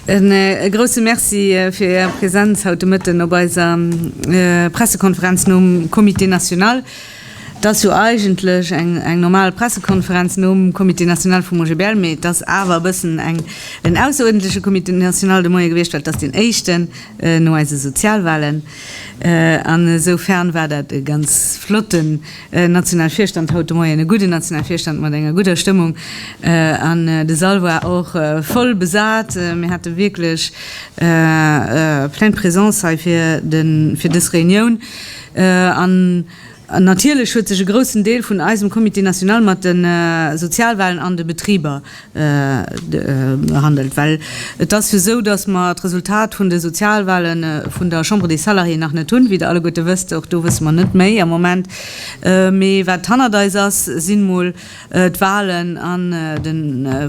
E grousse Merci fir Är Präsenz haut de Mëtten op eiser Pressekonferenz nom Comité national. Et ass jo eigentlech eng normal Pressekonferenz nom Comité national vum OGBL, mee et ass awer e bëssen en ausseruerdentleche Comité national de Moien gewiescht, well et ass deen éischten no eise Sozialwahlen. An esou fern war dat e ganz flotten nationale Virstand haut de Moien, e gudden nationale Virstand mat enger gudder Stëmmung. An de Sall war och voll besat. Mir hate wierklech plein de présence hei fir dës Reunioun. An natierlech huet sech e groussen Deel vun eisem Comité national mat de Sozialwahlen an de Betriber behandelt, well et ass jo esou, dass mer d'Resultat vun de Sozialwahle vun der Chambre des Salariés nach net hunn, wéi Der alleguerte wësst. Och do wësse mer net méi am Moment. Mee wat hannert eis ass, sinn emol d'Wahlen an de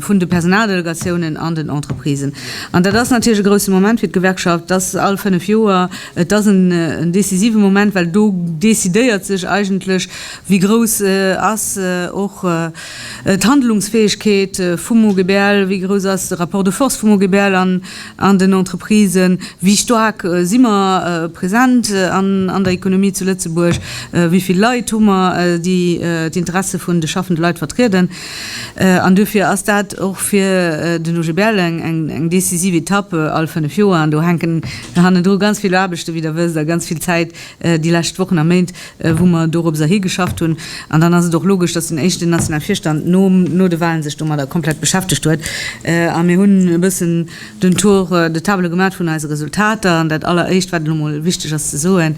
vun de Personaldelegatiounen an den Entreprisen. An dat ass natierlech e grouse Moment fir d'Gewerkschaft, dat ass all fënnef Joer, et ass en decisive Moment, well do decidéiert sech eigentlech, wéi grouss ass och d'Handlungsfäegkeet vum OGBL, wéi grouss ass de Rapport de force vum OGBL. an den Entreprisen, wéi staark si mer present an der Economie zu Lëtzebuerg, wéi vill Leit hu mer, déi d'Interesse vun de schaffende Leit vertrieden. An duerfir ass dat och fir den OGBL eng decisiv Etapp, all fënnef Joer. An do hänken hannendru ganz vill Aarbechten, wéi Der wësst, a ganz vill Zäit déi lescht Wochen a Méint. wou mer dorobser higeschafft hunn, an dann ass et och logesch, dass den éischten nationale Virstand no, no de Wahlen sech domadder komplett beschäftegt huet. A mir hunn e bëssen den Tour de table gemaat vun eise Resultater. An dat alleréischt, wat elo mol wichteg ass ze soen,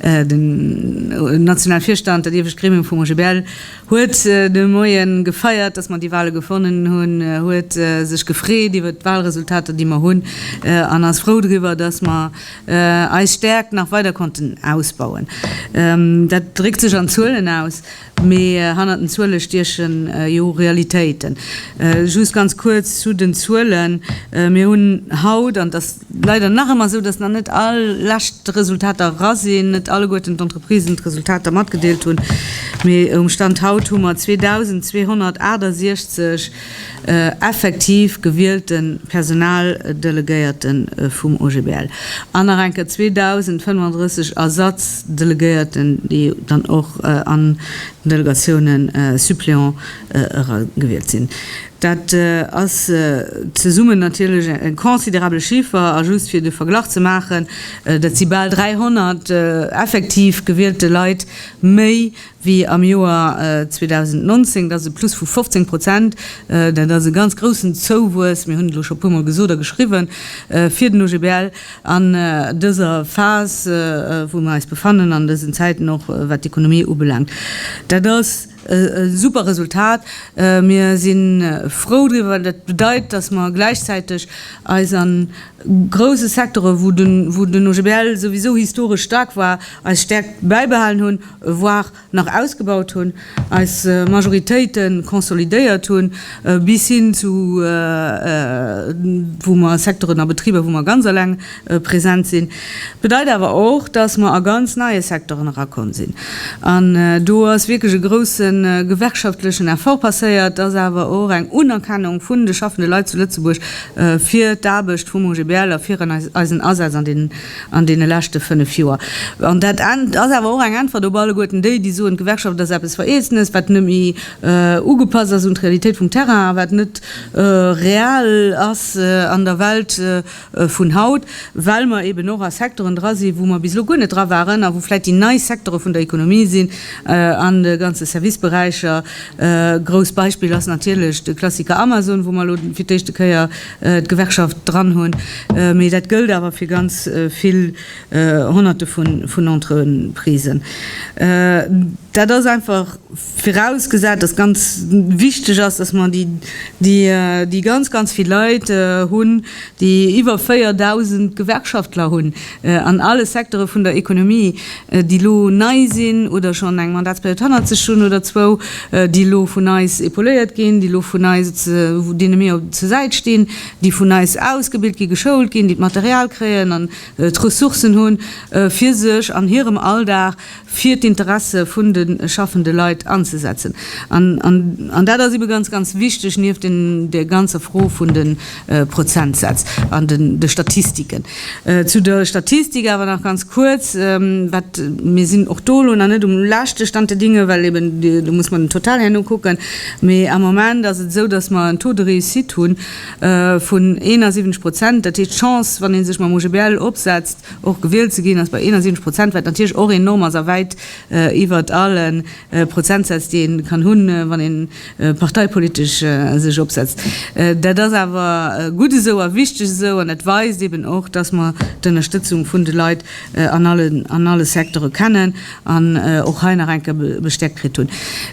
Den nationale Virstand, dat iewescht Gremium vum OGBL, huet de Moien gefeiert, dass mer déi Wahle gewonnen hunn, huet sech gefreet iwwert d'Wahlresultater, déi mer hunn, an ass frou driwwer, dass mer, eis Stärkt nach weider konnten ausbauen. Dat dréckt sech an Zuelen aus, mee hannert den Zuele stiechen jo Realitéiten. Just ganz kuerz zu den Zuelen, Mir hunn haut, an et ass leider nach ëmmer esou, dass nach net all lescht d'Resultater era sinn, net alleguerten d'Entreprisen d'Resultater matgedeelt hunn, mee um Stand haut hu mer 2.268 effektiv gewielten d'Personaldelegéierten vum OGBL an nach eng Kéier 2.035 Ersatzdelegéierten, déi dann och an den Delegatiounen suppléant era gewielt sinn. Dat ass zesummen natierlech e considérable Chiffre. A just fir de Verglach ze maachen, dat si bal 300 effektiv gewielte Leit méi wéi am Joer 2019. Dat ass e Plus vu 15 Prozent. Dat ass e ganz groussen Zouwuess, mir hunn et elo scho puer Mol gesot a geschriwwen, fir den OGBL an dëser Phas, wou mir eis befannen, an dësen Zäiten, och wat d'Ekonomie ubelaangt. Dat ass e super Resultat. Mir si frou driwwer. Dat bedeit, dass mer gläichzäiteg eis a grouse Secteuren, wou den OGBL souwisou historesch staark war, eis Stäerkt bäibehalen hunn. voire nach ausgebaut hunn, eis Majoritéite consolidéiert hunn, bis hin zu wou mer Secteuren a Betriber, wou mer ganz eleng present sinn, bedeit awer och, dass mer a ganz neie Secteuren erakomm sinn. An do ass wierklech e grouse gewerkschaftlechen Effort passéiert, dass awer och eng Unerkennung vun de schaffende Leit zu Lëtzebuerg fir d'Aarbecht vum OGBL a fir eisen Asaz an deenen an deene leschte fënnef Joer. An dat ass awer och eng Äntwert op alleguerten déi, déi soen, d'Gewerkschaft ass eppes Vereezenes, wat net méi ugepasst ass un d'Realitéit vum Terrain a wat net real ass an der Welt vun haut, well mer eben och a Secteuren dra sinn, wou mer bis elo guer net dra waren a wou vläicht déi nei Secteure vun der Economie sinn. An de ganze Serviceberäicher, grouss Beispill ass natierlech de Klassiker Amazon, wou mer elo fir d'éischte Kéier, d'Gewerkschaft dran hunn, mee dat gëllt awer fir ganz vill Honnerte vun Entreprisen. Dat ass einfach virausgesat, dass ganz wichteg ass, dass mer déi ganz, ganz vill Leit hunn, déi iwwer 4.000 Gewerkschaftler hunn, An alle Secteure vun der Ekonomie, déi elo nei sinn oder schonn eng Mandatsperiod hannert sech hunn oder zwou, déi elo vun eis epauléiert ginn, déi elo vun eis, deene mir zur Säit stinn, déi vun eis ausgebilt ginn, geschoult ginn, déi d'Material kréien an d'Ressourcen hunn, fir sech an hirem Alldag fir d'Interesse vun de schaffende Leit anzesetzen. An dat ass ebe ganz, ganz wichteg, nieft där ganzer Fro vun de Prozentsätz an de Statistiken. Zu der Statistik awer nach ganz kuerz, wat, mir sinn och do elo nach net um leschte Stand der Dinge, well eben do muss mer den Total herno kucken, mee am Moment ass et esou, datt mer en Taux de réussite hu vun 71 Prozent. Dat heescht, d'Chance, wann ee sech mam OGBL opsetzt, Och gewielt ze ginn ass bei 71 Prozent, wat natierlech och enorm ass a wäit iwwert alle Prozentsätz, déi ee kann hunn, wann ee parteipolitesch sech opsetzt. Dat ass awer gutt esou a wichteg esou an dat weist eben och, dass mer d'Ënnerstëtzung vun de Leit an alle Secteure kennen an och hei nach eng Kéier bestäerkt kritt hunn.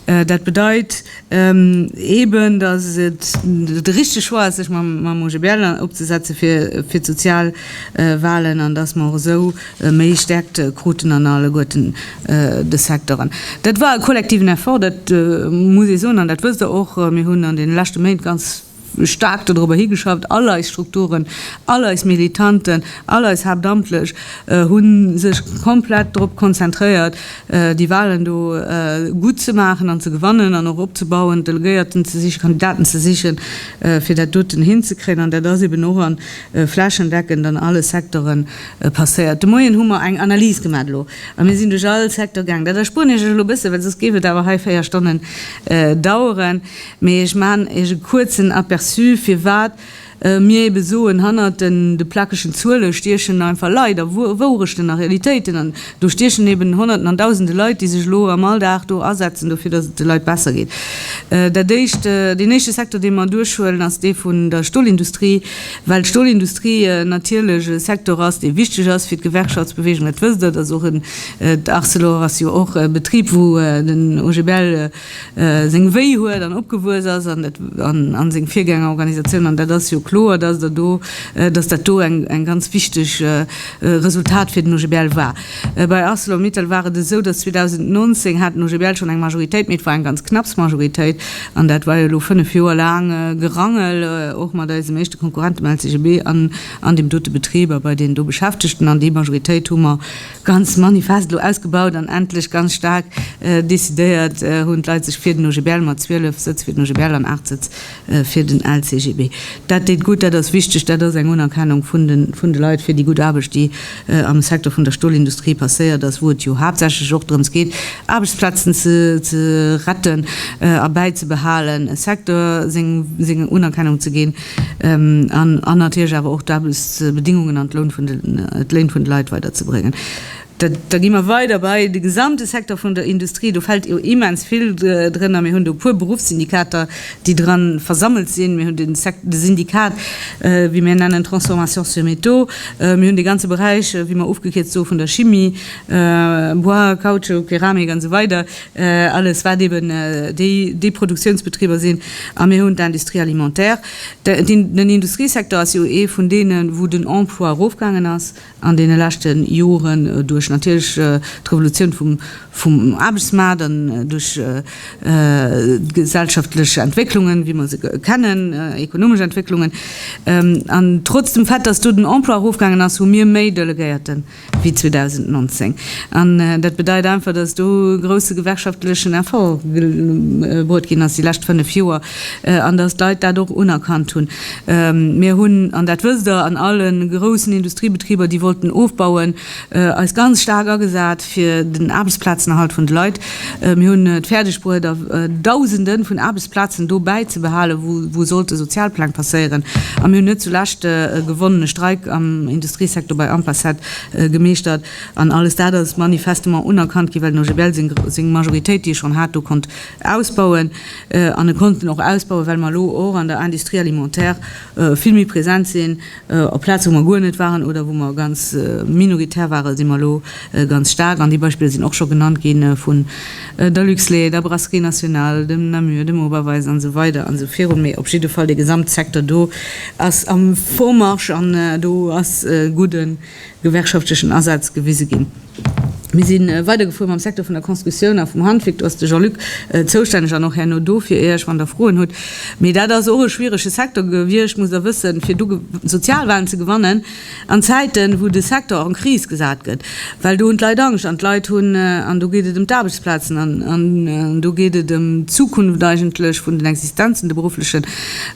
Dat bedeit, Eben, datt et de richtege Choix ass, sech mam OGBL opzesetzen, fir d'sozial Wahlen, an datt mer och esou méi Stärkt kruten an alleguerten de Secteuren. Dat war e kollektiven Effort, dat muss ee soen, an dat wësst Der och. Mir hunn an deene leschte Méint ganz. staark dodrobber higeschafft, all eis Strukturen, all eis Militanten, all eis Haaptamtlech hu sech komplett drop konzentréiert, déi Walen do gutt ze maachen an ze gewannen an och opzebauen, Delegéierten ze sichen, Kandidaten ze sichen, fir dat doten hinzekréien. An dat ass eben och a flächendeckend an alle Secteuren passéiert. De Moien hu mer eng Analys gemaach elo a mir sinn duerch all Secteur gaangen. Dat erspueren ech lech elo e bësse, well soss géif et awer hei véier Stonnen daueren. Mee ech maachen Iech e kuerzen Aperçu, firwat mir ebe soen, hannert de plackegen Zuele stiechen einfach Leit a Wourechten a Realitéiten. An do stiechen eben Honnerten an Dausende Leit, déi sech elo am Alldag do asetzen dofir, datt et de Leit besser geet. Dat Éischt, deen éischte Secteur, dee mer duerchhuelen, ass dee vun der Stolindustrie, well d'Stolindustrie natierlech e Secteur ass, dee wichteg ass fir d'Gewerkschaftsbewegung. Dat wësst Der, dass och en, d'Arcelor ass jo och e Betrib, wou den OGBL seng Wéi huet an opgewuess ass a seng Virgängerorganisatioun. An dat ass jo kloer, dass Der do, dass dat do eng ganz wichteg Resultat fir den OGBL war. Bei Arcelor-Mittal war et esou, dass 2019 hat den OGBL schonn eng Majoritéit, mee et war eng ganz knapps Majoritéit. An dat war jo elo fënnef Joer laang Gerangel, och mat eisem éischte Konkurrent, dem LCGB, an deem dote Betrib a bei deenen do Beschäftegten. An déi Majoritéit hu mer. Ganz manifest elo ausgebaut an endlech ganz staark decidéiert hunn d'Leit sech fir den OGBL, mat 12 Sëtz fir den OGBL an 8 Sëtz fir den LCGB. Dat deet gutt, dat ass wichteg, dat ass eng Unerkennung vun de Leit fir déi gutt Aarbecht, déi am Secteur vun der Stolindustrie passéiert ass, wou et jo haaptsächlech och drëms geet, Aarbechtsplazen ze retten a bäizebehalen, e Secteur seng Unerkennung ze ginn. an natierlech awer och d'Aarbechtsbedingungen an d'Loun vun d'Léin vun de Leit weider ze bréngen. Da gi mer weider bei de gesamte Secteur vun der Industrie. Do fält jo immens vill drënner. Mir hunn do e puer Beruffssyndikater, déi dran versammelt sinn. Mir hunn de Syndikat, wéi mir en nennen, Transformation sur métaux. Mir hunn dee ganze Beräich, wéi mer ofgekierzt soe vun der Chimie, Bois, Kautschuk, Keramik an esou weider. alles wat eben déi Produktionsbetriber sinn, a mir hunn d'Industrie alimentaire. Den Industriesecteur ass jo ee vun deenen, wou den Emploi erofgaangen ass an deene leschte Joren duerch natierlech d'Revolutioun vum Aarbechtsmaart an duerch d'gesellschaftlech Entwécklungen, wéi mer se kennen, ekonomesch Entwécklungen. An trotz dem Fait, dass do den Emploi erofgaangen ass, hu mir méi Delegéierten. wéi 2019. An dat bedeit einfach, dass do e grouse gewerkschaftlechen Effort gebruet ginn ass déi lescht fënnef Joer an dass d'Leit dat och unerkannt hunn. Mir hunn, an dat wësst Der, an alle groussen Industriebetriber, déi wollten ofbauen, eis ganz staark agesat fir den Aarbechtsplazenerhalt vun de Leit. Mir hunn et fäerdeg bruet Dausenden vun Aarbechtsplazen do bäizebehalen, wou sollte Sozialpläng passéieren. A mir hunn net zulescht e gewonnene Streik am Industriesecteur bei Ampacet gemeeschtert. An alles dat ass manifestement unerkannt ginn, well den OGBL seng Majoritéit, déi e schonn hat, do konnt ausbauen. An e konnt en och ausbauen, well mer elo och an der Industrie alimentaire vill méi present sinn, Op Plaze wou mer guer net waren oder wou mer ganz minoritär ware si mer elo ganz staark an déi Beispiller sinn och scho genannt gi vun der Luxlait, der Brasserie Nationale, dem Namur, dem Oberweis an esou weider an esou virun. Mee op jidde Fall dee Gesamtsecteur do ass am Vormarsch an do ass e gudden gewerkschaftlechen Asaz gewise ginn. Mir si weidergefuer mam Secteur vun der Constructioun a vum Handwierk. Do ass de Jean-Luc zoustänneg an och herno do fir Iech, wann Der Froen hutt. Mee dat ass och e schwierege Secteur gewiescht, musst Der wëssen, fir do Sozialwalen ze gewannen an Zäiten, wou de Secteur en crise gesat gëtt. Well do hunn d'Leit Angscht an d'Leit hunn, an do geet et ëm d'Aarbechtsplazen an do geet et ëm d'Zukunft eigentlech vun den Existenzen, de berufflechen.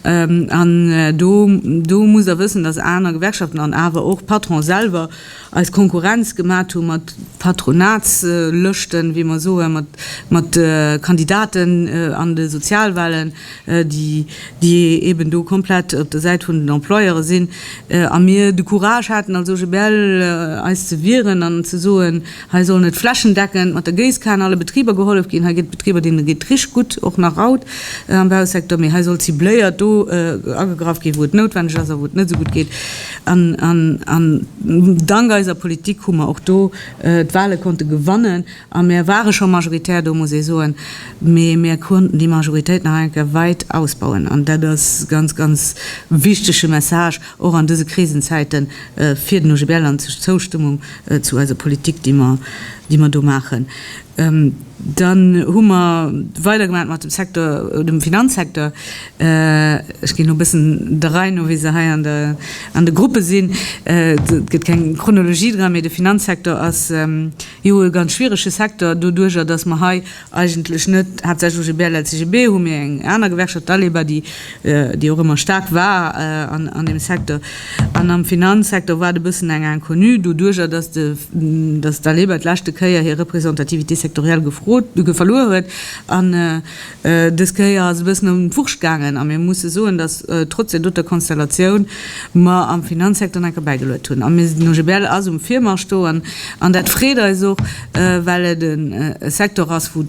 An do, do musst Der wëssen, dass aner Gewerkschaften an awer och d'Patronen selwer eis Konkurrenz gemaat hu mat Patronatslëschten, wéi mer soen, mat, mat Kandidaten an de Sozialwahlen, déi, déi eben do komplett op der Säit vun den Employeure sinn, a mir de Courage haten als OGBL eis ze wieren an ze soen, Hei sollen et flächendeckend mat der Géisskan alle Betriber gehollef ginn. Hei gëtt et Betriber, deenen et geet richteg gutt, och nach haut am Bausecteur. Mee hei soll cibléiert do agegraff ginn, wou et noutwenneg ass a wou et net esou gutt geet. An dank eiser Politik hu mer och do d'Wale konnte gewannen a mär ware scho majoritär do, muss ee soen. Mee mär konnten déi Majoritéit nach eng Kéier wäit ausbauen an dat ass ganz, ganz wichtege Message. Och an dëse Krisenzäite fir den OGBL an zur Zoustëmmung zu eiser Politik, déi mer, déi mer do maachen. Dann hu mer weidergemaach mat dem Secteur, dem Finanzsecteur. Ech ginn elo e bëssen der Rei no, wéi se hei an der, an de Gruppe sinn. Et gëtt keng Chronologie dran, mee de Finanzsecteur ass jo e ganz schwierege Secteur doduerjer, dass mer hei, eigentlech net haaptsächlech UGB, LSIGB, hu mir eng aner Gewerkschaft, d'Aleba, déi déi och ëmmer staark war an deem Secteur. An am Finanzsecteur war et e bëssen eng Inconnue, doduerjer datt de datt d'Aleba d'leschte Kéier hir Représentativité sectorielle gefrot verluer huet. An dës Kéier ass e bëssen an d'Wurscht gaangen a mir musse soen, datt trotz där doter Konstellatioun mer am Finanzsecteur nach enker bäigeluet hunn. A mir den OGBL ass um Virmarsch do an dat freet eis och, well et e Secteur ass, wou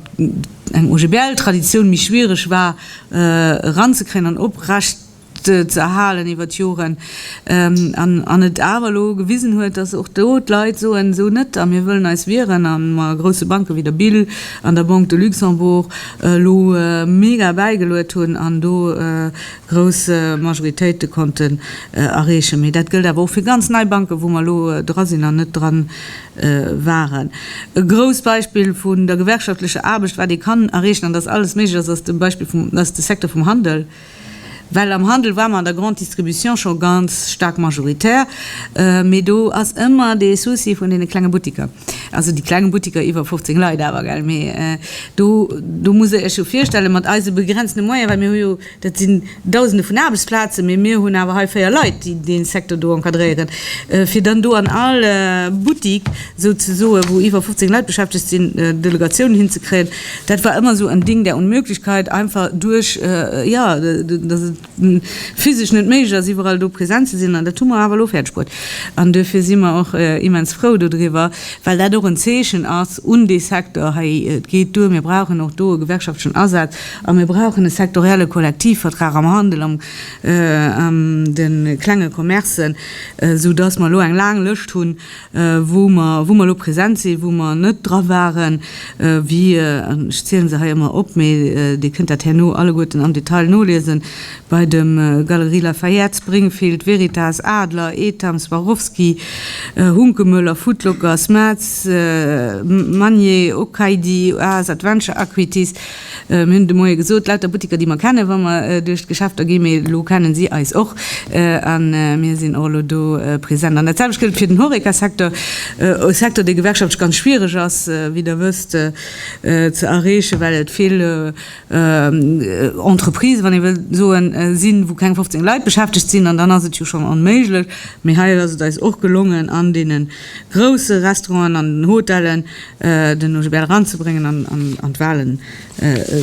eng OGBL-Traditioun méi schwiereg war eranzekréien an oprechtzëerhalen iwwer d'Joren, an et awer elo gewisen huet, dass och do d'Leit soen, esou net a mir wëllen eis wieren a mer grousse Banke wéi der BIL an der Banque de Luxembourg elo mega bäigeluet hunn an do grouss Majoritéite konnten erreechen. Mee dat gëllt awer och fir ganz nei Banken, wou mer elo dra sinn an net dran waren. E grousst Beispill vun der gewerkschaftlecher Aarbecht, wat ee kann erreechen an dass alles méiglech ass, ass de Beispill vum, ass de Secteur vum Handel. Well am Handel ware mer an der Grande Distribution scho ganz staark majoritär, mee do ass ëmmer dee Souci vun deene klenge Buttiker, also déi kleng Buttiker iwwer 15 Leit awer, gell, mee do, do musst Der Iech jo virstellen, mat eise begrenzte Moyene, well mir hu jo, Dat sinn Dausende vun Aarbechtsplazen, mee mir hunn awer hei véier Leit, déi dee Secteur do encadréieren, fir dann do an all Buttik souzesoen, wou iwwer 15 Leit beschäftegt sinn, Delegatiounen hinzekréien. Dat war ëmmer esou en Ding der Unmöglichkeit, einfach duerch, jo, dass et physesch net méiglech ass, iwwerall do present ze sinn. An dat hu mer awer elo fäerdegbruet. An duerfir si mer och immens frou dodriwwer, well dat och en Zeechen ass un dee Secteur, Hei, et geet duer, mir brauchen och do e gewerkschaftlechen Asaz. A mir brauchen e sektorielle Kollektivvertrag am Handel, am an de klenge Commercen, esou dass mer elo eng laang Lëscht hunn, wou mer, wou mer elo present sinn, wou mer net dra waren, wéi, an ech ziele se hei ëmmer op, mee Dir kënnt dat herno alleguerten am Detail noliesen, bei de Galeries Lafayette, Springfield, Veritas, Adler, Etam, Swarovski, Hunkemöller, Foot Locker, Smats, Magnier, Okaïdi, Oase, Adventure, Aquitis. Mir hunn de Moie gesot, lauter Buttiker, déi mer kennen, wa mer duerch d'Geschäfter ginn, mee elo kennen si eis och a mir sinn och elo do present. An dat selwecht gëllt fir den Horeca-Secteur, e Secteur, dee gewerkschaftlech ganz schwierig ass, wéi Der wësst, ze erreechen, well et vill Entreprises, wann ee wëllt soen, sinn, wou keng 15 Leit beschäftegt sinn. An dann ass et jo schonn onméiglech. Mee hei ass et eis och gelongen an deene grousse Restauranten, an den Hotellen, den Nojibel eranzebréngen an d'Wahlen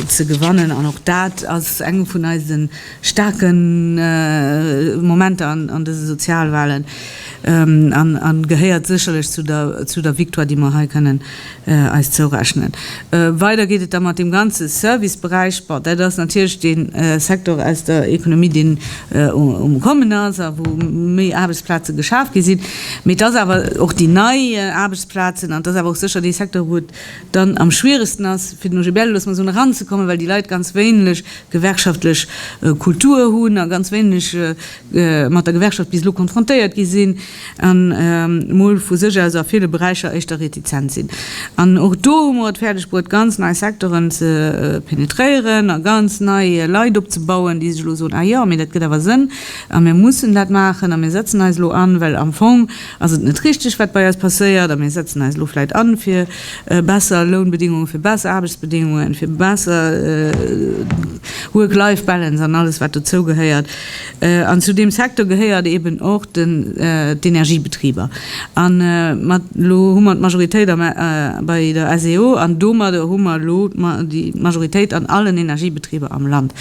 ze gewannen. An och dat ass eng vun eise staarke Momenter an dëse Sozialwahlen a gehéiert sécherlech zu der Victoire, déi mer hei kënnen eis zourechnen. Weider geet et da mat deem ganze Serviceberäich. Bon, dat ass natierlech dee Secteur aus der Ekonomie, deen um Kommen ass a wou méi Aarbechtsplaze geschaf gi sinn. Mee et ass awer och déi nei Aarbechtsplazen, Plazen, an et ass awer och sécher dee Secteur, wou et dann am schwieregsten ass, fir den OGBL, loosse mer soen, eranzekommen, well déi Leit ganz wéineg gewerkschaftlech Kultur hunn a ganz wéineg mat der Gewerkschaft bis elo konfrontéiert gi sinn an emol vu sech aus a ville Beräicher éischter retizent sinn. An och do hu mer et fäerdeg bruet, ganz nei Secteuren ze penetréieren a ganz nei Leit opzebauen, déi sech elo soen, Ah jo, mee dat gëtt awer Sënn a mir mussen dat maachen a mir setzen eis elo an, well am Fong Ass et net richteg, wat bei eis passéiert, a mir setzen eis elo vläit an, fir besser Lounbedingungen, fir besser Aarbechtsbedingungen, fir besser Work-Life Balance an alles, wat dozou gehéiert? An zu deem Secteur gehéiert eeben och d'Energiebetriber. An mat elo hu mer d'Majoritéit bei der SEO, an domadder hu mer elo d'Majoritéit an allen Energiebetriber am Land.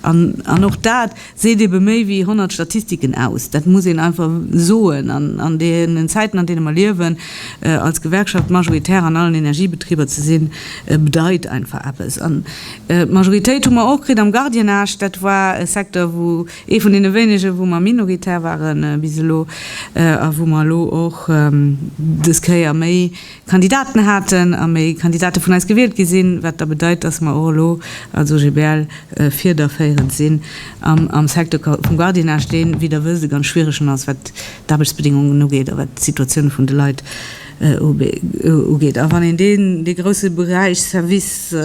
An och dat. Seet ebe méi wéi 100 Statistiken aus. Dat muss een einfach soen. An an deenen Zäiten, an deene mer liewen, als Gewerkschaft majoritär an allen Energiebetriber ze sinn, bedeit einfach eppes. An d'Majoritéit hu mer och kritt am Gardiennage. Dat war e Secteur, wou ee vun deene wéinege, wou mer minoritär ware bis elo a wou mer elo och des Kéier méi, Kandidaten haten a méi Kandidate vun eis gewielt gi sinn, wat da bedeit, dass mer och elo als OGBL fiederféierend sinn an am Secteur vum Gardiennage, dee wéi Der wësst e ganz schwieregen ass, wat d'Aarbechtsbedingungen ugeet a wat d'Situatioun vun de Leit ugeet. A wann een dee grousse Beräich Service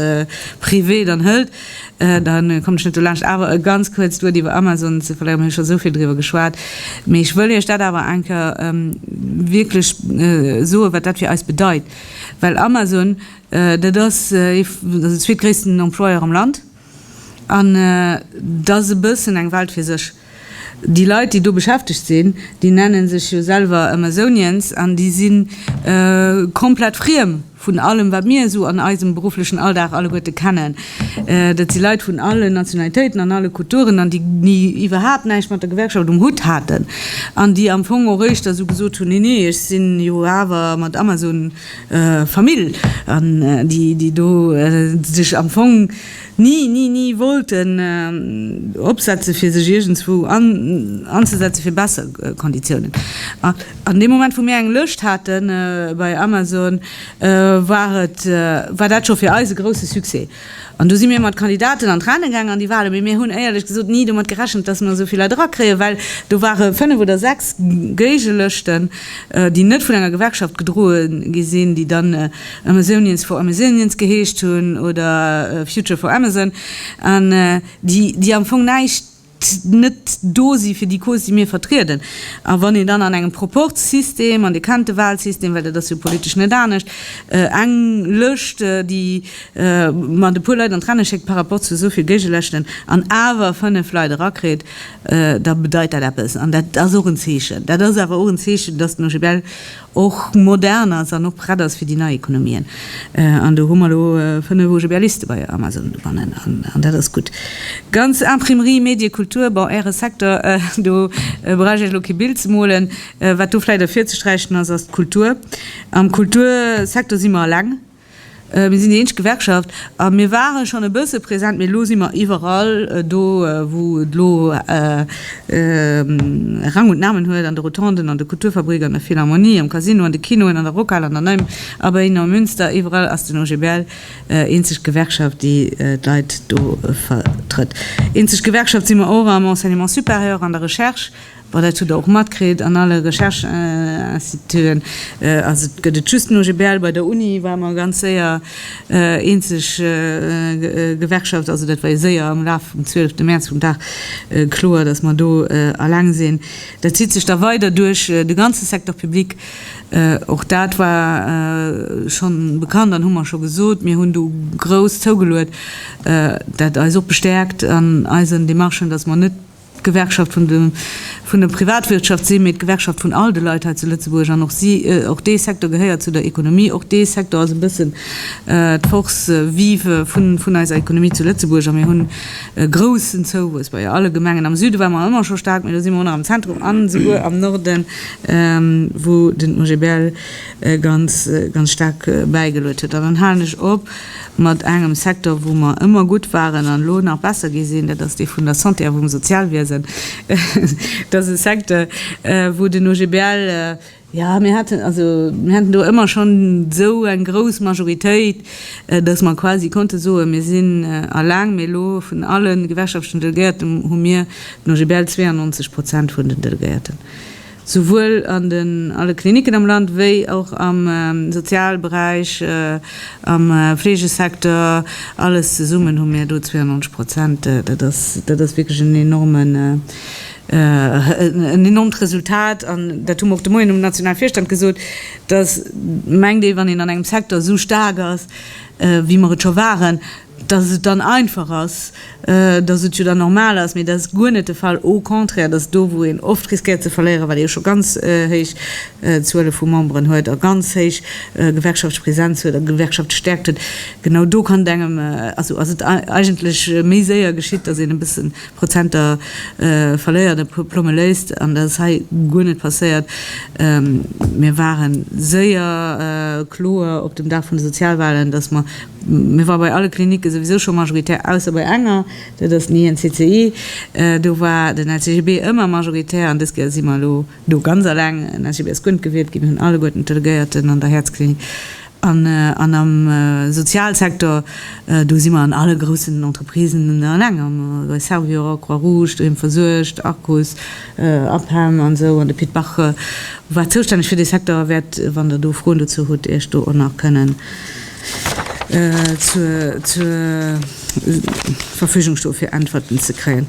privé dann hëlt, Da kommen ech net dolaanscht awer ganz kuerz d'Wuert iwwer Amazon ze verléieren. Mir hu scho esou vill driwwer geschwat, mee ech wëll Iech dat awer eng Kéier wierklech soen, wat dat fir eis bedeit. Well Amazon, dat ass de zweetgréissten Employeur am Land an dat ass e bëssen eng Welt fir sech. Déi Leit, déi do beschäftegt sinn, déi nenne sech jo selwer Amazonians an déi si komplett friem vun allem, wat mir esou an eisem berufflechen Alldag alleguerte kennen. Dat si Leit vun allen Nationalitéiten an alle Kulturen an déi ni iwwerhaapt näischt mat der Gewerkschaft um Hutt haten an déi am Fong och éischter esou gesot hunn, Nee, nee, ech si jo awer mat Amazon Famill an déi do sech am Fong, ni ni ni wollten opsetzen, fir sech iergendswou anzesetzen fir besser Konditiounen. An deem Moment, wou mir eng Lëscht hate bei Amazon, war et, war dat scho fir eis e grousse Succès. An du si mir mat Kandidaten an d'Rennen gaangen an déi ware, mee mir hunn éierlech gesot ni domat gerechent, dass mir esou vill Leit erakréien, well do ware fënnef oder sechs Géigelëschten, déi net vun enger Gewerkschaft gedroe gi sinn, déi dann, Amazonians for Amazonians geheescht hunn oder Future for Amazon, an déi am Fong näischt, net do si fir déi Cause, déi mir vertrieden. A wann een dann an engem Proporzsystem, an Dir kennt de Walsystem, well dat ass jo politesch net anescht, eng Lëscht, déi mat e puer Leit an d'Renne schéckt par rapport zu esou vill Géigelëschten, an awer fënnef Leit erakritt, da bedeit dat eppes. An dat ass och en Zeechen. Dat ass awer och en Zeechen, datt den OGBL och modern ass an och prett ass fir déi nei Ekonomien. An do hu mer elo fënnef OGBListe bei Amazon dobannen an dat ass gutt. Ganz Imprimerie, Medie, Kultur, bon, Äre Secteur, do brauch ech Iech elo kee Bild ze molen. Wat do vläicht ervirzesträichen ass, ass d'Kultur. Am Kultursecteur si mer eleng. Mir sinn déi eenzeg Gewerkschaft a mir ware schonn e bësse present, mee elo si mer iwwerall do, wou et elo Rang und Namen huet, an de Rotonden, an de Kulturfabrik, an der Philharmonie, am Casino, an de Kinoen, an der Rockhal, an der Nei Abeille, am Münster, iwwerall ass den OGBL eenzeg Gewerkschaft, déi d'Leit do vertrëtt. Eenzeg Gewerkschaft si mer och am Enseignement supérieur, an der Recherche. Bon, dat hutt Der och matkritt an alle Recherche-Instituten. Also et gëtt et just den OGBL. Bei der Uni ware mer ganz séier eenzeg Gewerkschaft. Also dat war jo séier am Laf vum 12. Mäerz, vum Dag, kloer, datt mer do alleng sinn. Dat zitt sech da weider duerch de ganze Secteur public. Och dat war schonn bekannt an hu mer scho gesot. Mir hunn do grouss zougeluet, dat eis och bestäerkt an eisen Demarchen, datt mer net d'Gewerkschaft vun de vun der Privatwirtschaft sinn, mee d'Gewerkschaft vun all de Leit hei zu Lëtzebuerg, an och si, och dee Secteur gehéiert zu der Ekonomie, och dee Secteur ass e bëssen d'Force vive vun vun eiser Ekonomie zu Lëtzebuerg. A mir hunn e groussen Zouwuess bei alle Gemengen. Am Süde ware mer ëmmer scho staark, mee elo si mer am Zentrum an esouguer am Norden, wou den OGBL ganz ganz staark bäigeluet huet. An dann halen ech op. Mat engem Secteur, wou mer ëmmer gutt waren an elo nach besser gi sinn, dat ass dee vun der Santé a vum Sozialwiesen. Et ass e Secteur, wou den OGBL, jo, mir haten, also mir haten do ëmmer schonn esou eng grouss Majoritéit, dass mer quasi konnte soen, mir sinn alleng. Mee elo, vun alle gewerkschaftlechen Delegéierten hu mir den OGBL 92 Prozent vun den Delegéierten. souwuel an den alle Kliniken am Land wéi och am Sozialberäich, am Fleegesecteur, alles zesummen hu mir do 92 Prozent. Dat ass, dat ass wierklech en enormen, en enormt Resultat. An dat hu mer och de Moien um nationale Virstand gesot, dass, mengt ee, wann een an engem Secteur esou staark ass, wéi mer et scho waren, dass et dann einfach ass, dass et jo dann normal ass, mee dat ass guer net de Fall, au contraire, dat ass do, wou een oft riskéiert ze verléieren, well ee jo scho ganz héich Zuele vu Memberen huet a ganz héich Gewerkschaftspräsenz huet a Gewerkschaftsstäerkt huet. Genau do kann et engem, also ass et eigentlech méi séier geschitt, dass een e bësse Prozenter verléiert a plomme léisst, an dat ass hei guer net passéiert. Mir ware séier kloer op dem Dag vun de Sozialwahlen, dass mer, Mir war bei alle Klinicke souwisou scho majoritär, ausser bei enger, dat ass den INCCI. Do war den LCGB ëmmer majoritär an dës Kéier si mer elo do ganz eleng. Den LCGB ass guer net gewielt ginn, hunn alleguerten d'Delegéierten an der Häerzklinik an am Sozialsektor. Do si mer an alle groussen Entreprisen eleng, bei Servior, Croix-Rouge, Doheem versuergt, Arcus, APEM an esou. An de Pit Bach, wat zoustänneg fir dee Secteur, wäert, wann Der do Froen dozou hutt, Iech do och nach kënnen. zur Verfügung stoe fir Äntwerten ze kréien.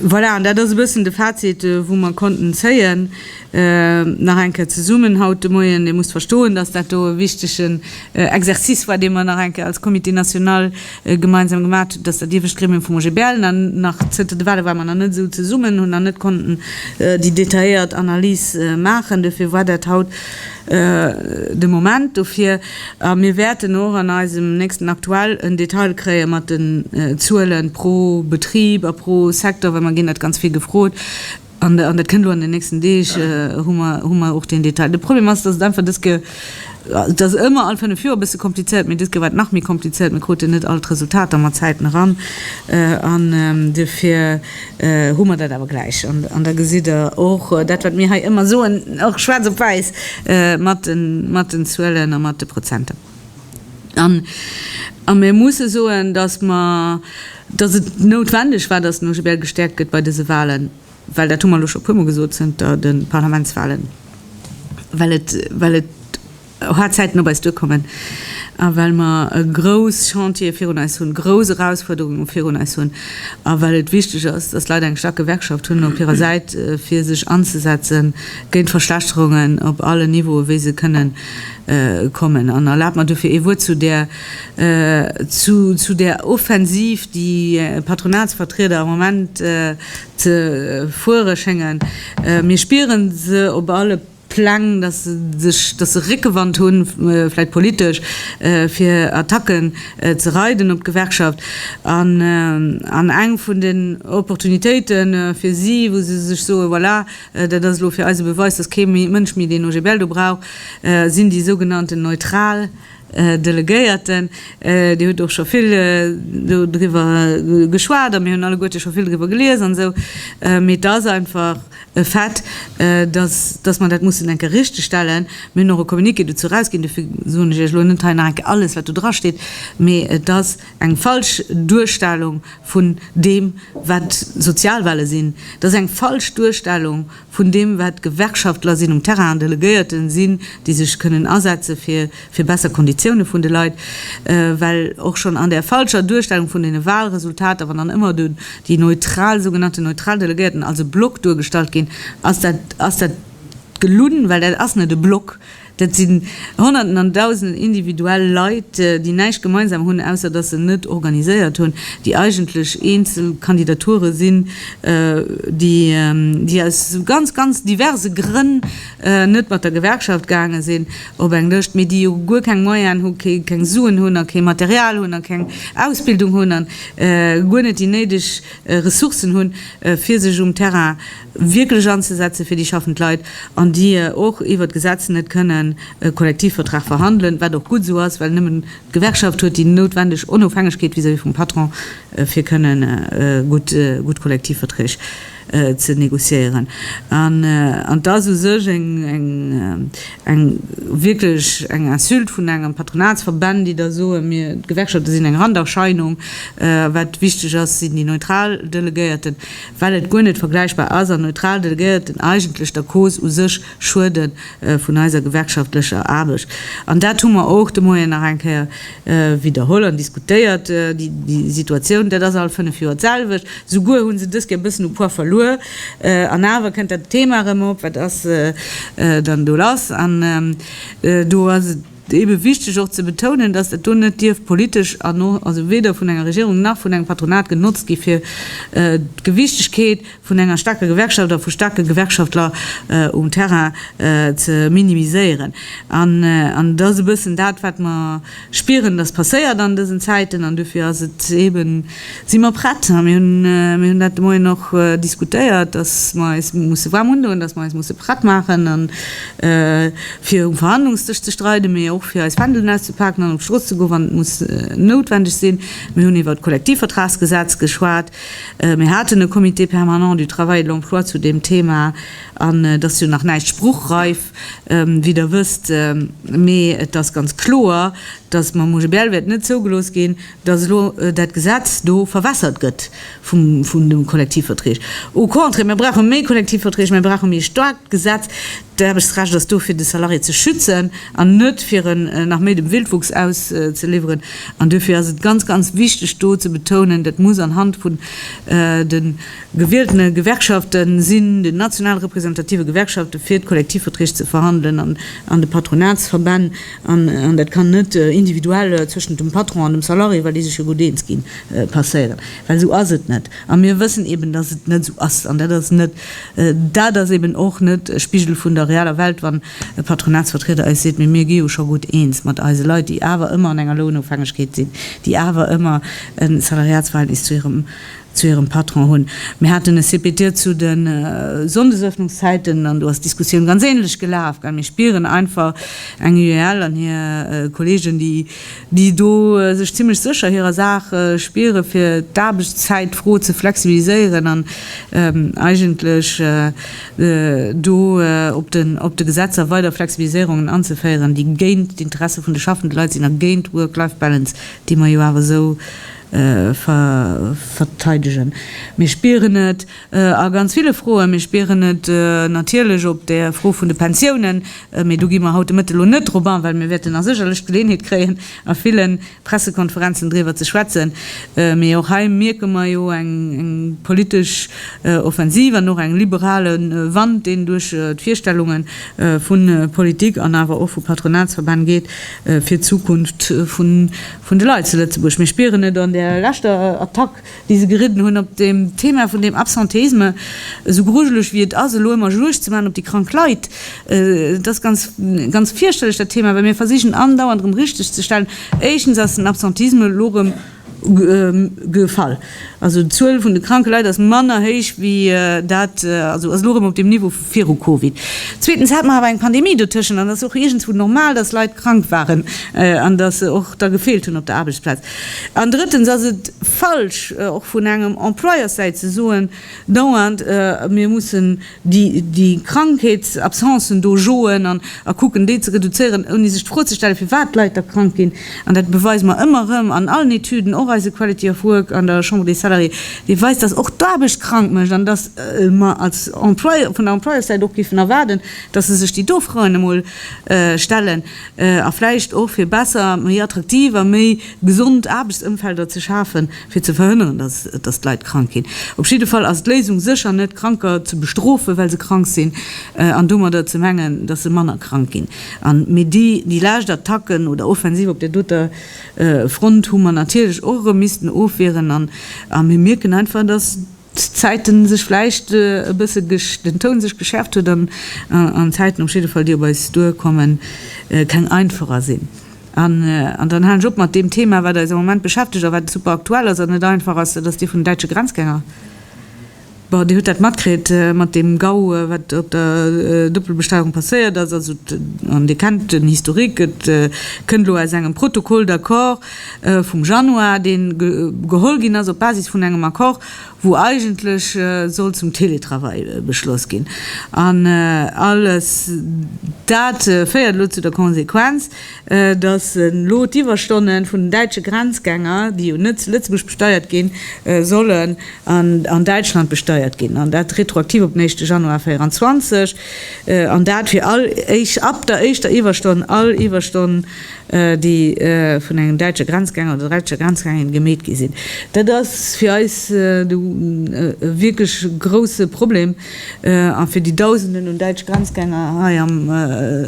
Voilà, an dat ass e bëssen de Fazit, wou mer konnten zéien. Nach eng Kéier zesummen haut de Moien, Dir musst verstoen, dass dat do e wichtegen Exercice war, dee mer nach eng Kéier als Comité national gemeinsam gemaach hunn, dass dat iewescht Gremium vum OGBL nach zënter de Wale war mer nach net esou zesummen, hunn nach net konnten déi detailléiert Analys maachen. Dofir war dat haut de Moment dofir, a mir wäerten och an eisem nächsten Aktuell en Detail kréie mat den Zuelen pro Betrib a pro Secteur, well mer ginn dat ganz vill gefrot an dat kënnt elo an den nächsten Deeg, hu mer och deen Detail. De Problem ass, datt et einfach dës Ke, et ass ëmmer all fënnef Joer e bësse komplizéiert, mee dës Ke war et nach méi komplizéiert, mir kruten net all d'Resultater mat Zäiten eran an dofir, hu mer dat awer gläich an da gesitt Der och dat, wat mir hei ëmmer soen, och schwaarz op wäiss mat den Zuelen a mat de Prozenter. A mir musse soen, dass mer, dass et noutwendeg war, dass den OGBL gestäerkt gëtt bei dese Wahlen, well dat hu mer elo scho e puermol gesot zënter de Parlamentswahlen, well et, well et, Hard Zäiten op eis duerkommen a well mer e grouss Chantier virun eis hunn, grouss Erausfuerderunge virun eis hunn a well et wichteg ass, dass d'Leit eng staark Gewerkschaft hunn op hirer Säit fir sech anzesetze géint Verschlechterungen op allen Niveaue wéi se kënne kommen. An erlaabt mer dofir ee Wuert zu där Offensiv, déi d'Patronatsvertrieder am Moment ze fuere schéngen. Mir spiere se op alle. Pläng, datt se sech, datt se Réckewand hunn, vläit politesch, fir Attacken ze reiden op d'Gewerkschaft. An, an eng vun den Opportunitéite fir si, wou se sech soen, voilà, dat ass elo fir eis e Beweis, datt kee Mënsch méi deen OGBL do brauch, sinn déi sougenannten neutral, Här Delegéierten, Dir hutt och scho vill do driwwer geschwat a mir hunn alleguerte scho vill driwwer gelies an esou, mee et ass einfach e Fait, dass, dass mer dat mussen eng Kéier richtegstellen. Mir hunn och e Communiqué dozou erausginn, dofir soen ech Iech elo net hei nach eng Kéier alles, wat do drasteet, mee et ass eng falsch Duerstellung vun deem, wat Sozialwale sinn. Et ass eng falsch Duerstellung vun deem wat d'Gewerkschaftler sinn, um Terrain an Delegéierten sinn, déi sech kënnen asetze fir fir besser Konditioune vun de Leit, well och schonn an där falscher Duerstellung vun deene Wahlresultater, wann dann ëmmer do déi neutral, sougenannten neutral Delegéierten als e Block duergestallt ginn, ass dat ass dat gelunn, well dat ass net e Block. Dat sinn Honnerten an Dausenden individuell Leit, déi näischt gemeinsam hunn, ausser dass se net organiséiert hunn, déi eigentlech eenzel Kandidature sinn, déi aus ganz, ganz diverse Grënn net mat der Gewerkschaft gaange sinn op eng Lëscht, mee déi jo guer keng Moyenen hu, keng Suen hunn a kee Material hunn a keng Ausbildung hunn a guer net déi néideg Ressourcen hunn, fir sech um Terrain wierklech anzesetzen fir déi schaffend Leit, an déi och iwwert d'Gesetz net kënnen e Kollektivvertrag verhandelen, wat och gutt esou ass, well nëmmen d'Gewerkschaft huet déi noutwendeg Onofhängegkeet vis-à-vis vum Patron fir kënnen gutt Kollektivverträg ze négociéieren. An et ass u sech eng wierklech eng Insulte vun engen Patronatsverbänn, déi da soen, mir, d'Gewerkschafte sinn eng Randerscheinung, wat wichteg ass, sinn déi neutral Delegéierten. well et guer net vergläichbar ass an neutral Delegéierten eigentlech der Cause u sech schuede vun eiser gewerkschaftlecher Aarbecht. An dat hu mer och de Moien nach eng Kéier widderholl an diskutéiert. Déi Situatioun, dat ass all fënnef Joer d'selwecht. Souguer hu se dës Kéier e bëssen u Poids verluer an awer kënnt dat Thema erëm op, Wat ass dann do lass? An do ass et. Et ass eebe wichteg och ze betounen, datt dat do net dierf politesch an och also weder vun enger Regierung nach vun engem Patronat genotzt gi fir d'Gewichtegkeet vun enger staarker Gewerkschaft a vu staarke Gewerkschaftler um Terrain ze minimiséieren. An et ass e bëssen dat wat mer spieren, datt passéiert an dësen Zäiten an dofir ass et eeben, Si mer prett? Mir hunn dat de Moien och diskutéiert, dass mer eis musse waarm undoen, dass mer eis musse prett maachen fir um Verhandlungsdësch ze streiden, mee och fir eis Fändelen auszepaken an op d'Strooss ze goen, wann et muss noutwendeg sinn. Mir hunn iwwer d'Kollektivvertragsgesetz geschwat. Mir haten e Comité permanent du travail et de l'emploi zu deem Thema an et ass jo nach näischt spruchreif, wéi Der wësst, mee et ass ganz kloer, dass mam OGBL wäert net zougelooss ginn, dass elo dat Gesetz do verwässert gëtt vun de Kollektivverträg. Au contraire, mir brauche méi Kollektivverträg, mir brauche méi e staarkt Gesetz. D'Aarbechtsrecht ass do fir de Salarié ze schützen an net fir en nach méi dem Wildwuchs auszeliwweren. An duerfir ass et ganz, ganz wichteg do ze betounen, dat muss anhand vun de gewieltene Gewerkschafte sinn, den national representative Gewerkschafte fir d'Kollektivverträg ze verhandelen an de Patronatsverbänn. An dat kann net individuell zwëschent dem Patron an dem Salarié, well déi sech jo gutt eens ginn, passéieren, well esou ass et net. A mir wëssen eben, datt et net esou ass. An dat ass net, dat ass eben och net e Spigel vun der realer Welt, wann e Patronatsvertrieder eis seet, mee mir gi jo scho gutt eens mat eise Leit, déi awer ëmmer an enger Lounofhängegkeet sinn, déi awer ëmmer e Salariatsverhältnis zu hirem zu hirem Patron hunn. Mir haten e CPT zu de Sonndesöffnungszäiten an do ass d'Diskussioun ganz ähnlech gelaf. Mir spieren einfach eng UEL an hir Kollegen, déi do sech zimmlech sécher hirer Saach spieren, fir d'Aarbechtszäitfro ze flexibiliséieren an eigentlech do op de Gesetzer weider Flexibiliséierungen anzeféieren, déi géint d'Interesse vun de schaffende Leit sinn a géint d'Work-Life-Balance, déi mer jo awer esou verteidegen. Mir spieren et a ganz ville Froen. Mir spieren et natierlech op der Fro vun de Pensiounen, mee do gi mer haut de Mëtteg elo net drop an, well mir wäerten a sécherlech d'Geleeënheet kréien a ville Pressekonferenzen driwwer ze schwätzen. Mee och hei mierke mer jo eng politesch Offensiv an och eng liberale Wand, deen duerch d'Virstellunge vu Politik an awer och vu Patronatsverbänn geet, fir d'Zukunft vun Vun de Leit zu Lëtzebuerg. Mir spieren et an där leschter Attack, déi se geridden hunn op deem Thema vun deem Absentéisme, esou grujeleg wéi et ass elo ëmmer Juegd ze maachen op déi krank Leit, et ass ganz, ganz fierchterlech dat Thema, well mir versichen andauernd erëm richteg ze stellen. Éischtens ass den Absentéisme elo erëm gefall. Also d'Zuel vun de kranke Leit ass manner héich wéi dat, also ass elo erëm op deem Niveau vu viru Covid. Zweetens hat mer awer eng Pandemie dotëschent an et ass och iergendzwou normal, datt Leit krank waren an datt se och da gefeelt hunn op der Aarbechtsplaz. An drëttens ass et falsch, och vun engem Employerssäit ze soen dauernd, mir mussen, déi Krankheetsabsencen do joen an a kucken, déi ze reduzéieren, ouni sech d'Fro ze stellen, firwat d'Leit da krank ginn. An dat beweise mer ëmmer erëm an allen Etüden, och eise Quality of Work an der Chambre des Salariés, dee weist, dass och d'Aarbecht krank mécht an dass mer als Employeur, vun der Employeursäit och géifen erwaarden, dass se sech déi do Froen emol stellen a vläicht och, fir besser, méi attraktiv a méi gesond Aarbechtsëmfelder ze schafen. fir ze verhënneren, dass, dass d'Leit krank ginn. Op jidde Fall ass d'Léisung sécher net, Kranker ze bestrofen, well se krank sinn, an domadder ze mengen, dass se manner krank ginn. A mee déi, déi lescht Attacken oder Offensiv op där doter Front hu mer natierlech och erëm missten ofwieren, a mir mierken einfach, dass, Zäiten sech vläicht e bësse den Toun sech geschärft huet an an Zäiten op jidde Fall déi op eis duer kommen keng einfacher sinn. An an dann halen ech op mat deem Thema wat eis am Moment beschäftegt a wat super aktuell ass an net einfach ass, dat ass dee vun den däitsche Grenzgänger. Bon, Dir hutt dat matkritt mat deem GAU wat op der Doppelbesteierung passéiert ass, also an Dir kennt den Historique, et kënnt elo aus engem Protocole d'accord, vum Januar, dee geholl ginn ass op Basis vun engem Accord, wou eigentlech sollt zum Teletravail beschloss ginn. An alles dat féiert elo zu der Konsequenz, dass elo d'Iwwerstonne vun den däitsche Grenzgänger, déi jo net zu Lëtzebuerg besteiert ginn, sollen an Däitschland besteiert ginn, an dat retroaktiv op den éischte Januar 2024, an dat fir all ab der éischter Iwwerstonn all Iwwerstonn, déi vun engem däitsche Grenzgänger oder däitscher Grenzgängerin gemeet gi sinn. Dat ass fir eis e wierklech grouse Problem a fir déi Dausenden un däitsch Grenzgänger hei am,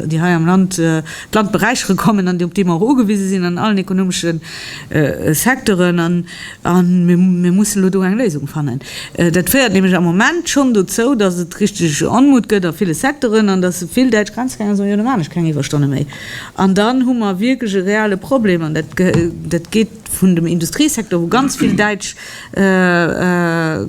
déi hei am Land d'Land beräichere kommen an op déi mer och ugewise sinn an allen ekonomesche Secteuren. A mir mussen elo do eng Léisung fannen. Dat féiert nämlech am Moment schonn dozou, datt et richteg Onmut gëtt a ville Secteuren an datt vill däitsch Grenzgänger soen, Jo, da maachen ech keng Iwwerstonne méi. An dann hu mer wierklech e reale Problem, an dat geet vun dem Industriesecteur, wou ganz vill däitsch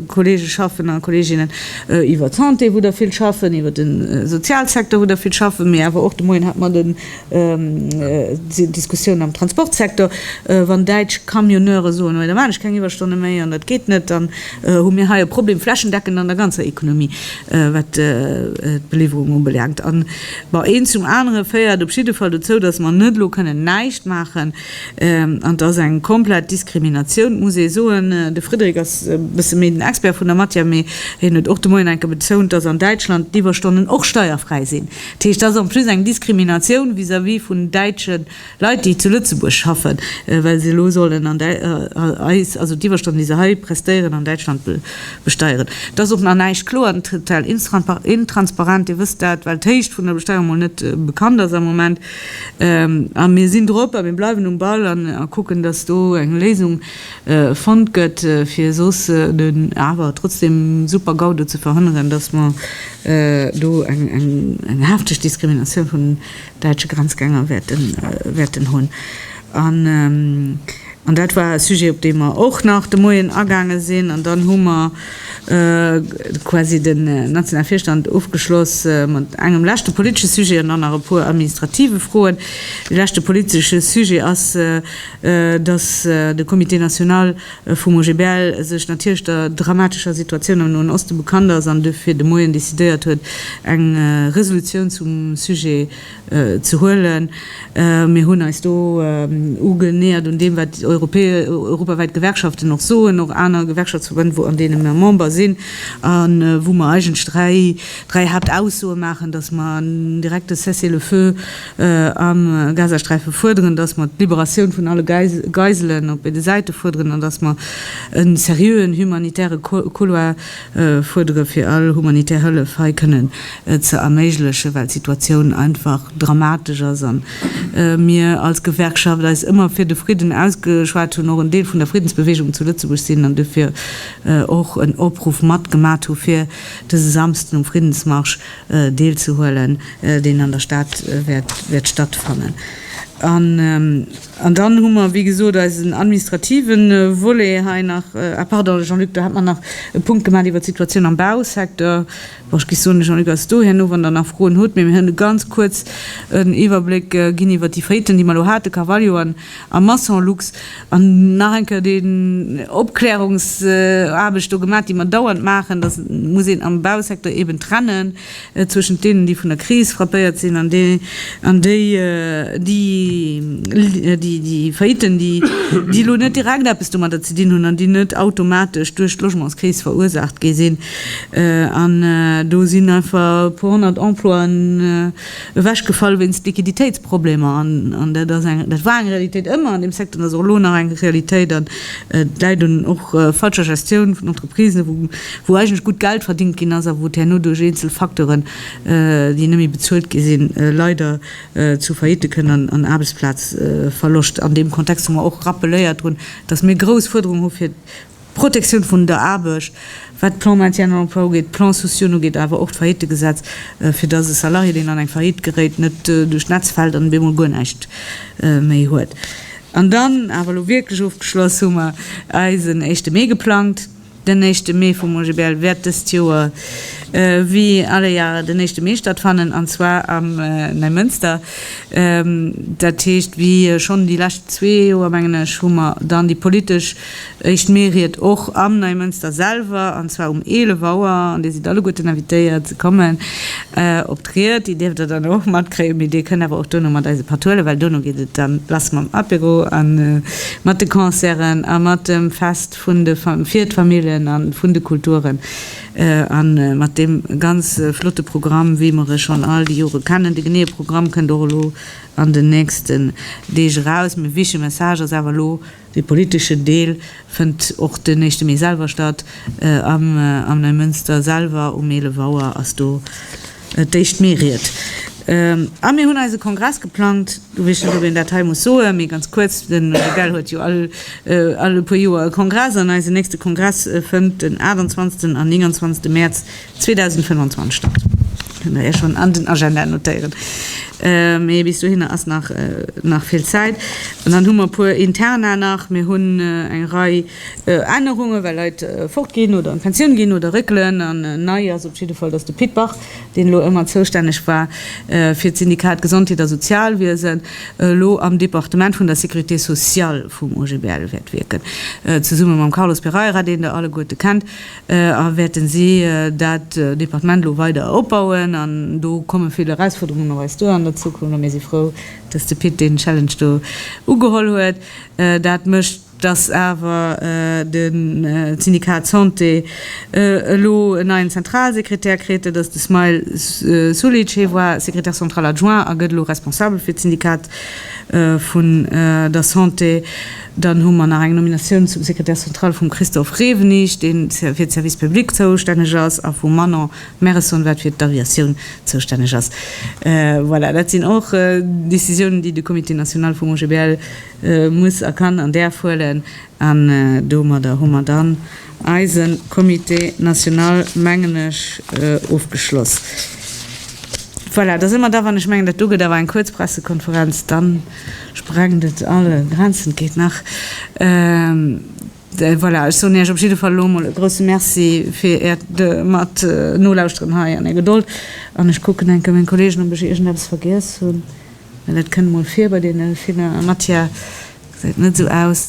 Kollege schaffen a Kolleginnen, iwwer d'Santé, wou der vill schaffen, iwwer de Sozialsecteur, wou der vill schaffen, mee awer och, de Moien hate mer den, déi Diskussioun am Transportsecteur, wann däitsch Camionneure soen, hei da maachen ech keng Iwwerstonne méi an dat geet net, dann hu mir hei e Problem flächendeckend an der ganzer Economie, wat d'Beliwwerung ubelaangt. Bon, eent zum anere féiert op jidde Fall dozou, dass mer net elo kënnen näischt maachen. An et ass eng komplett Diskriminatioun, muss ee soen. De Frédéric ass e bësse méi den Expert vun der Matière, mee hien huet och de Moien enke betount, dass an Däitschland d'Iwwerstonnen och steierfräi sinn. Dat heescht, dat ass en plus eng Diskriminatioun vis-à-vis vun däitsche Leit, déi zu Lëtzebuerg schaffen, well se elo sollen an eis, also d'Iwwerstonnen, déi se hei prestéieren, an Däitschland besteieren. Et ass och nach näischt kloer an total intransparent, Dir wësst dat, well d'Héicht vun der Besteierung emol net bekannt ass am Moment. A mir sinn drop a mir bleiwen um Ball an kucken, dass do eng Léisung fonnt gëtt, fir soss den awer trotzdeem super Gau do ze verhënneren, dass mer do eng hefteg Diskriminatioun vun däitsche Grenzgänger wäerten hunn. An dat war e Sujet, op dee mer och nach de Moien agaange sinn. An dann hu mer quasi den nationale Virstand ofgeschloss mat engem leschte politesche Sujet an dann nach e puer administrative Froen. Dee leschte politesche Sujet ass, dass de Comité national, vum OGBL sech natierlech der dramatescher Situatioun am Noen Oste bekannt ass an dofir de Moien decidéiert huet, eng Resolutioun zum Sujet ze huelen. Mir hunn eis do ugeneäert un deem, wat déi europawäit Gewerkschaften och soen, och aner Gewerkschaftsverbënn, wou an deene mer Member sinn, a wou mer eigentlech dräi Haaptaussoe maachen, datt mer en direkte Cessez-le-feu am Gazasträife fuerderen, datt mer d'Liberatioun vun alle Geiselen op béide Säite fuerderen an datt mer e seriöen humanitäre Couloir fuerdere fir all humanitär Hëllef hei kënnen ze erméiglechen, well d'Situatioun einfach dramatesch ass a mir als Gewerkschaft eis ëmmer fir de Fridden ausgeschwat hunn, och en Deel vun der Friddensbewegung zu Lëtzebuerg sinn an dofir och en Opruff matgemat hu fir dëse Samsden um Friddensmarsch deelzehuelen, deen an der Stad wäert stattfannen. An dann hu mer, wéi gesot, eisen administrative Volet hei nach. Ah pardon, Jean-Luc, do hat mer nach e Punkt gemaach iwwert d'Situatioun am Bausecteur. Bon, ech géif soen, de Jean-Luc ass do herno, wann Der nach Froen hutt. Mee mir hunn e ganz kuerz en Iwwerbléck ginn iwwert déi Faiten, déi mer elo haten, Carvalho an. a Masson-Lux an nach eng Kéier déi Opklärungsaarbecht do gemaach, déi mer dauernd maachen, dass et muss een am Bausecteur eben trennen zwëschent deenen, déi vun der Kris frappéiert sinn, an déi, an déi, déi, déi, déi Failliten, déi, déi elo net direkt eppes domadder ze dinn hunn an déi net automatesch duerch d'Logementskris verursaacht gi sinn. An do sinn einfach e puer honnert Emploien, ewechgefall wéinst Liquiditéitsproblemer. An dat ass eng, dat war eng Realitéit ëmmer an deem Secteur an ass och elo nach eng Realitéit. An et läit un och falscher Gestioun vun Entreprisen, wou, wou eigentlech gutt Geld verdingt ginn ass a wou et herno duerch eenzel Facteuren, déi net méi bezuelt gi sinn, leider zu Faillite kënn an an Aarbechtsplazverloscht. An deem Kontext hu mer och rappeléiert drun, dass mir grouss Fuerderungen hu fir D'Protektioun vun der Aarbecht, wat d'Plans maintien en emploi ugeet, d'Plans sociaux ugeet, awer och d'Faillitegesetz, fir dass e Salarié, deen an eng Faillite geréit, net duerch d'Netz fält an op eemol guer näischt méi huet. An dann, awer elo wierklech ofgeschloss, hu mer eisen éischte Mee geplangt. Den éischte Mee vum OGBL wäert dëst Joer, wéi alle Jahre, den éischte Mee stattfannen, an zwar am Neimënster. Dat heescht, wéi schonn déi lescht zwee Joer, mengen ech, hu mer dann déi politesch. Éischt Mee ried och am Neimënster selwer, an zwar um 11 Auer, an Dir sidd alleguerten invitéiert ze kommen op d'Ried. Déi dierft Der dann och matkréien, mee Dir kënnt awer och dono mat eis e Patt huelen, well dono geet et dann lass mam Apéro a mat de Concerten a mat dem Fest vun de fir d'Familljen a vun de Kulturen a mat deem ganz flotte Programm, wéi mer e schonn all déi Jore kennen. De geneeë Programm kënnt och elo an den nächsten Deeg eraus, mee wichtege Message ass awer elo, Dee politeschen Deel fënnt och den éischte Mee selwer statt. Am Neimënster selwer um 11 Auer ass do d'éischt Meeried. A mir hunn eise Kongress geplangt. Du weess net, ob een dat hei muss soen, mee ganz kuerz, De Rebell huet jo all e puer Joer e Kongress an eisen nächste Kongress fënnt den 28 an 29 Mäerz 2025 Start. Kënnt Der Iech schonn an den Agenda notéieren. Mee bis dohinner ass nach, nach vill Zäit. An dann hu mer e puer Interna nach. Mir hunn eng Rei Ännerungen, well Leit fortginn oder an d'Pensioun ginn oder réckelen. An nei ass op jidde Fall, dass de Pit Bach, deen elo ëmmer zoustänneg war fir d'Syndikat Gesondheet a Sozialwiesen, elo am Departement vun der Sécurité sociale vum OGBL wäert wierken, zesumme mam Carlos Pereira, deen Der alleguerte kennt. A wäerten si dat Departement elo weider opbauen? An do komme vill Erausfuerderungen op eis duer an der Zukunft. A mir si frou, dass de Pit deen Challenge do ugeholl huet. Dat mécht, dass awer de Syndikat Santé elo en neien Zentralsekretär kritt. Dat ass de Smail Sulic. Hie war Secrétaire central adjoint a gëtt elo responsabel fir d'Syndikat vun der Santé. Dann hu mer nach eng Nominatioun zum Secrétaire central vum Christophe Rewenig, dee fir d'Services publics zoustänneg ass, a vum Manon Merison, wat fir d'Aviatioun zoustänneg ass. Voilà, dat sinn och Décisiounen, déi de Comité national vum OGBL muss a kann an däerf huelen. An domadder hu mer dann eise Comité national, mengen ech, ofgeschloss. Voilà, da si mer da, wann ech mengen, dat do gëtt awer eng kuerz Pressekonferenz dann. Sprengt et all Grenzen? Geet nach? Voilà, ech soen Iech op jidde Fall elo emol e grousse Merci fir Äert mat Nolauschteren hei an Är Gedold. An ech kucken enke meng Kolleegen, ob ech iergendeppes vergiess hunn, well et kënnt emol vir bei deene ville Matière, gesäit net esou aus.